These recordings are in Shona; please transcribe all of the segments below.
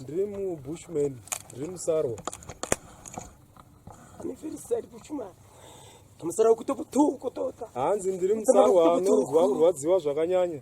ndiri mubushman ndiri musarwa hanzi ndiri musarwa anonzwa kurwadziwa zvakanyanya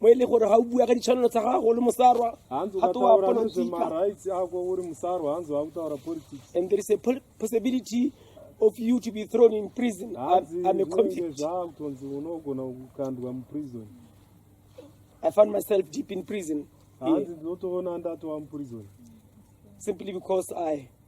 mo e le gore ga o bua ka ditshwanelo tsa gago le mosarwa ga to wa and there is a possibility of you to be thrown in prison I'm a convict I found myself deep in prison hanzi ndinotoona ndatowa muprison simply because I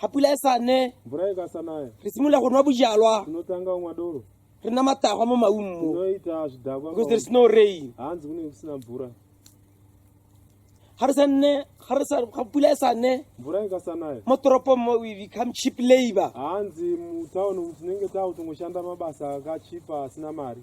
ga pula e sa ne mvura e ka sa naya re simolola go nwa bojalwa tinotanga go nwa doro re na matagwa mo maungo tinoita zvidakwa because there is no rain hanzi kune kusina mvura ga re sa nne ga re sa ga pula e sa ne mvura e ka sa naya mo toropong mo we become cheap labor hanzi mu town tinenge takutongoshanda mabasa ka cheap asina mari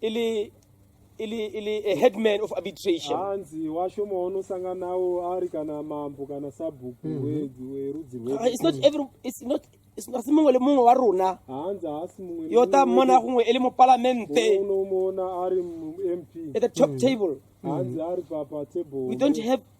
ili ili ili a headman of arbitration hanzi washoma unosanga nawo ari kana mambo kana sabhuku mm -hmm. werudzi rwe ah, it's not every it's not asi mongwe le mongwe wa rona hanzi haasi mongwe yo ta mmona gongwe e le mo palamente uno mmona ari mp at the top mm. table hanzi mm. ari pa pa table we don't have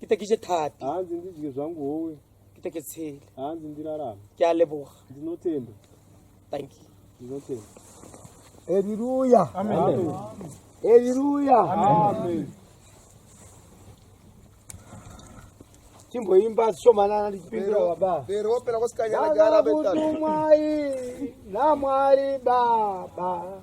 kitekije thapi hanzi ndidye zvangu howe kiteketsele hanzi ndirarame ke a leboga ndinotenda thank you ndinotenda haleluya haleluya timboimba shomanana ndichipindura baba pero wapera kwasikanyana gara betatu mwai namwari baba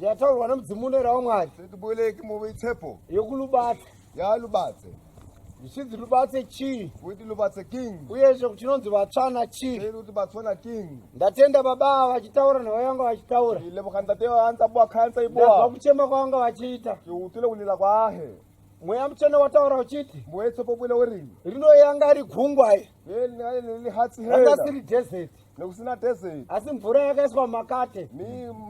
Yataurwa nemudzimu unoera waMwari. Setiboleki move itsepo. Yokulubatse. Yalubatse. Zvisinzi lubatse chii? Kuti lubatse king. Uyezve kuti chinonzi vatsvana chii? Sei kuti vatsvana king. Ndatenda baba vachitaura nhava yanga vachitaura. Ile vakandate vanza bwa kansa ibwa. Ndabva kuchema kwanga vachiita. Utile kulila kwahe. mweya mutsvene wataura uchiti mboetsopopwile werini rino yanga ari gungwa ranga siri desert nekusina desert asi mvura yakaiswa mumakate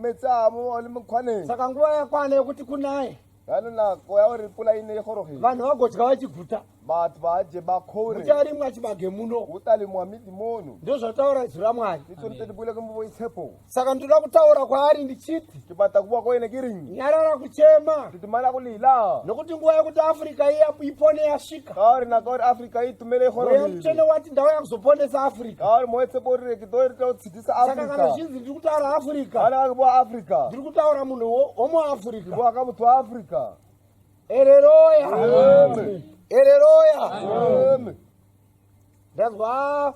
metsaamo ali mukwanei saka nguva yakwana yekuti kunaye yanonako yauripula ine ihorohe vanhu vagodya vachiguta vati vaje bakore ucharimwa chibage muno utalimwa midi mono ndozvataura izwi ramwari itori tetibwile kumbovo itsepo saka ndinoda kutaura kwaari ndichiti tibata kuwa koine kirinyi nyarara kuchema titimana kulila nokuti nguva yekuti afrika iya ipone yasvika kaori nakaori afrika itumele honomutsvene wati ndau yakuzoponesa afrika kaori moetse borire kidoritautsidzisa afrika saka kana zvinzi ndiri kutaura afrika kana akakuwa afrika ndiri kutaura munhu womuafrica kuwa akamutswa afrika ereroya ereroya Ndanzwa ah,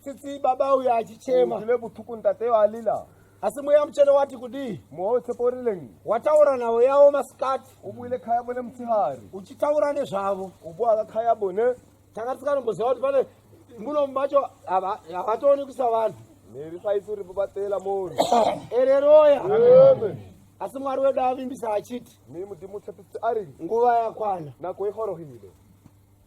tsitsi baba uya achichema. Ndile butuku ntate alila. Asi mweya muchene wati kudii? Mweya wetseporileni. Wataura navo yavo masikati. Ubuyile khaya bone mutihari. Uchitaura nezvavo. Ubuya khaya bone. Tanga tisanomboziva kuti pane muno macho havatooni kuisa vanhu. Neri saisi uri babatela mori. Ereroya. Amen. Asi Mwari wedu avimbisa achiti. Mimi ndimutsepisi ari. Nguva yakwana. Nako ihorohile.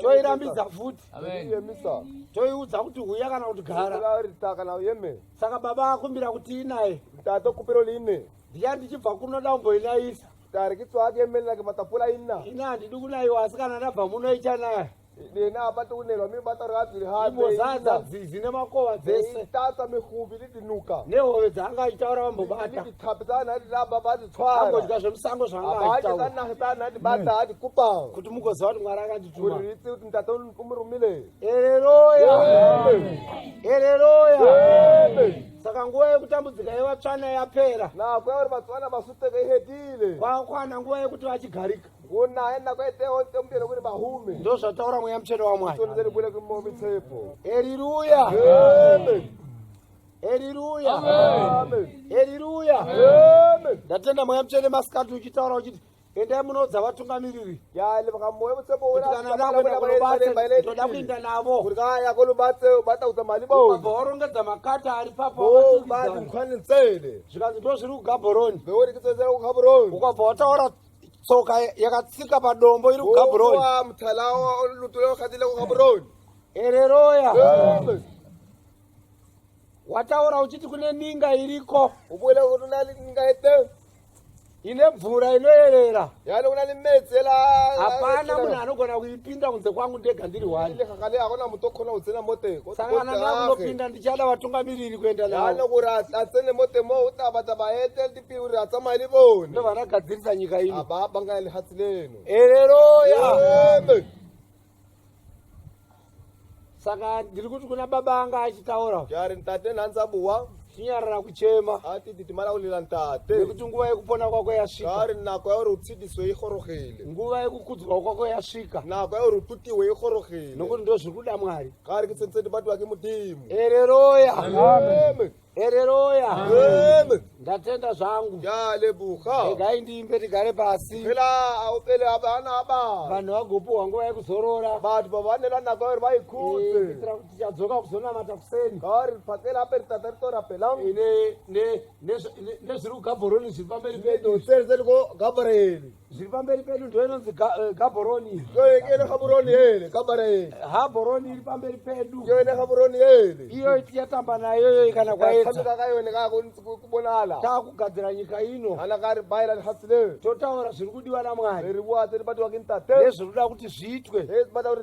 toirambidza futi toiudza kuti huya kana kuti garasaka baba akumbira kuti inaye ndiya ndichibva kunoda umboinaisa ina handidi kunaiwa asi kana ndabva munoita naye Nina hapati unelwa mi basa rati rihambe. Imbozadza dzizi nemakova dzese. Itata mihubi lidinuka. Nehove dzanga achitaura vambobata. Nditi tapitana hati ramba bati tswara. Angodya zvemusango zvanga achitaura. Abaje kana kana hati bata hati kupa. Kuti mugoziva kuti mwari akandituma. Kuti ritsi kuti mtata umurumile. Haleluya. Haleluya. Saka nguva yekutambudzika yevatsvana yapera. Na kwauri vatsvana vasuteka ihedile. Kwakwana nguva yekuti vachigarika. ndozvataura mweya mutsvene wamwari eriruya eriruya eriruya ndatenda mweya mutsvene masikati uchitaura uchiti endai munoudza vatungamiriri toda kuinda navo vaorongedza makata ari papoaoankwane nsele zvikanzi ndo zviri kugabhoroni ukabva wataura tsoka yakatsika padombo iri kugabroni ereroya wataura uchiti kune ninga iriko ine mvura inoyerera hapana munhu anogona kuipinda kunze kwangu ndega ndiri wanisangana nakunopinda ndichada vatungamiriri kuenda nao Uri atsamai le bone. Ndo vana gadzirisa nyika ino. Aba banga le hatsi leno. Haleluya. Amen. Saka ndiri kuti kuna baba anga achitaura. Yari ntate nhanzi abuwa. Chinyarara kuchema. Ati titi mara ulila ntate. Nekuti nguva yekupona kwako yasvika. Yari nako yauri utsidiswe ikhorogele. Nguva yekukudzwa kwako yasvika. Nako yauri ututiwe ikhorogele. Nokuti ndozviri kuda Mwari. Kari kitsenseti batu wake mudimu. Haleluya. Amen. Amen. Hereroya. Amen. Ndatenda zvangu. Ndalebuka. Regai ndiimbe tigare pasi. Phela aupele abana aba. Vanhu vagopuwa nguva yekuzorora. Vanhu vavanela nako vari vaikuze. Eh, kuitira kuti tichadzoka kuzonamata kuseni. Kari pakela aperi tata ritora phela. Ine ne ne nezviri kuGaborone zviri pamberi pedu. Ndotserese ko Gaborone. zviri pamberi pedu ndo inonzi eh, gaboroni yoyekene gaboroni yele gabara yele haboroni iri pamberi pedu yoyene gaboroni yele iyo yatamba nayo yoyi kana kwaetakayonekakubonala takugadzira nyika ino kana kari baira nhasileve totaura zviri kudiwa namwari ririwate ribatiwa kintate ezviri kuda kuti zviitwe ezibata kuti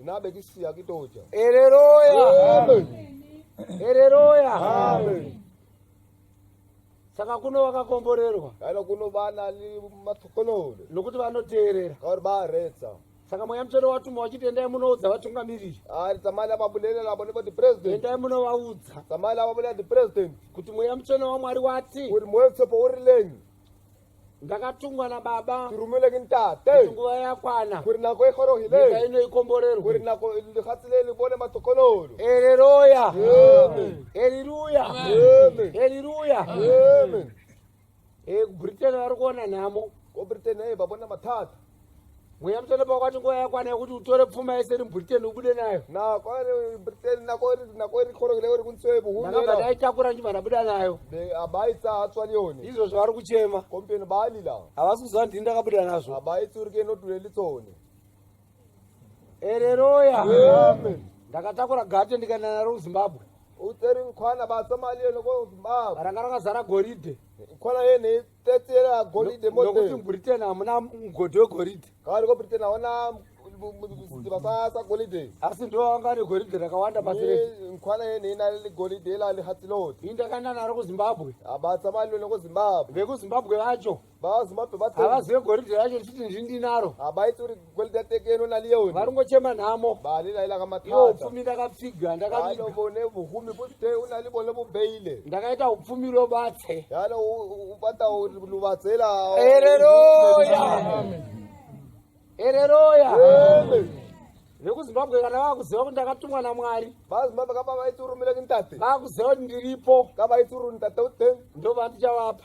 Nabe kisi ya kitoja. Haleluya. Amen. Haleluya. Amen. Saka kuno wakakomborerwa. Kana kuno bana li matukonole. Nokuti vanoteerera. Kauri ba retsa. Saka mweya mutsvene watumwa wachiti endai munoudza vatungamiriri. Ari tsamali ababulele labo nebo the president. Endai munovaudza. Tsamali ababulele the president. Kuti mweya mutsvene waMwari wati. Uri mweya mutsopo uri lenyi. ndakatungwa nababa turumile ke ntate kuti nguva yakwana gore nako e gorogile nyika ino ikomborerwe gore nako lefatshe le le bone matokololo haleluya amen haleluya amen haleluya amen e britain ari kuona nhamo ko britain e ba bona mathata mweya mutsvene pakwati nguva yakwana yekuti utore pfuma yese iri mubritain ubude nayo nakobva ndaitakura ndichibva ndabuda nayo izvozvo vari kuchema havasi kuziva ndini ndakabuda nazvo ereroya ndakatakura gate ndikaenda naro kuzimbabwe uteri nkwana basa mali yeno kozimbabwe ranga rakazara goridhe nkwana yene Tetsera golide mote. Nokuti muBritain hamuna mgodhi wegoridhe. Kawari koBritain haona mabasa golide. Asi ndo anga ane goridhe rakawanda pasi rese. Nkwana yene ina le golide ila le hatilot. Inda kana naro ku Zimbabwe. Abatsa mali lone ku Zimbabwe. Veku Zimbabwe vacho. Ba Zimbabwe batsa. Havazive goridhe racho ndichiti ndindinaro. Abaitsuri Kwelita tekeno na Leon. Varungo chema namo. Bali la ila kama tata. Yo ufumi ndaka figa ndaka miga. Yalo bone ufumi pute unali bone bu beile. Ndaka ita ufumi lo batse. Yalo upata ulubatsela. Ereroya. Amen. Ereroya. Amen. vekuzimbabwe kana vakuziva kuti ndakatumwa namwari vazimbabwe kava vaiturumira kintate vakuziva kuti ndiripo kava vaituruni tate uten ndovantichavapa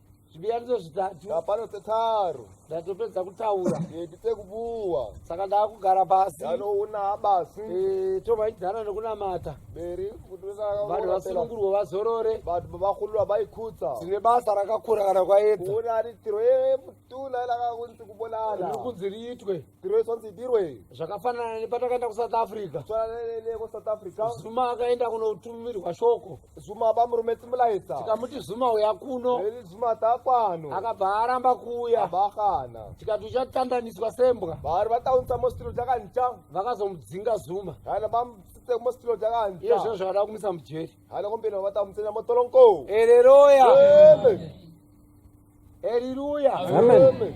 zvibiyaniso zvitatu Hapana tetaro. ndatopedza kutaura Ndite kubuwa. saka ndaakugara pasi Ndanoona basi. Eh, tomaidzana nekunamata Beri kuti vanhu vana vasunungurwe vazorore vanhu vakhululwa bayikhutsa. tine basa rakakura kana kwaedza Kuona ari tiro ye mutuna lakakunzi kubonana. rikunzi riitwe Grace wanzi idirwe. Zvakafanana nepatakaenda kuSouth Africa. Tsananele kuSouth Africa. Zuma akaenda kunotumirwa shoko. Zuma bamurume Timulaitsa. Tikamuti Zuma uya kuno. Eli Zuma takwano. Akabva aramba kuuya. Abakana. Tikati uchatandaniswa sembwa. Bari vataunza mostiro takancha. Vakazomudzinga Zuma. Kana bam site mostiro takancha. Iye zvozvo zvada kumisa mujeri. Kana kumbira vatamutsena motolonko. Haleluya. Amen. Haleluya. Amen. Amen.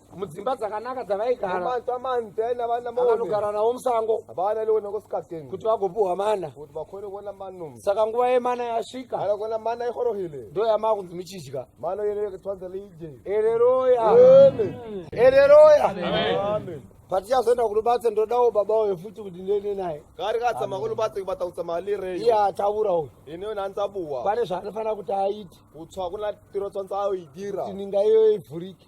mudzimba dzakanaka dzavaigaravanogarana navo musango kuti vagopuhwa mana saka nguva yemana yasvika ndo yamaa kunzi muchidya ereroya ereroya patichazoenda kulubatse ndodawo baba uyo futi kuti ndiende naye kari katsama kulubatse kubatautsa mali re iye ataura uyo ineyo nantsabuwa pane zvaanofanira kuti aite kutswa kuna tiro tswantsaaoidira tininga iyoyo ivhurike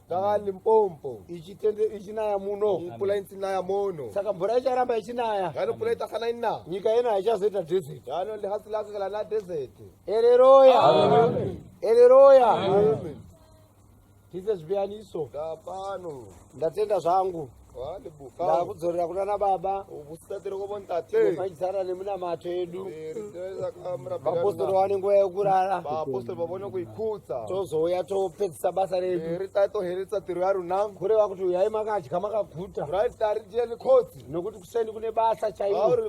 saka limpompo ichitende ichinaya muno mvula insinaya mono saka mvura icharamba ichinaya gano mvula itasana ina nyika yeno haichazoita desert gano lihasi lake kala na desert ereroya ereroya tise zvipiyaniso ndapano ndatenda zvangu ndakudzorera kuna nababa maizara nemunamato edu vapostori wane nguva yekurara tozouya topedzisa basa redukureva kuti uyai makadya makaguta nokuti kuseni kune basa chairo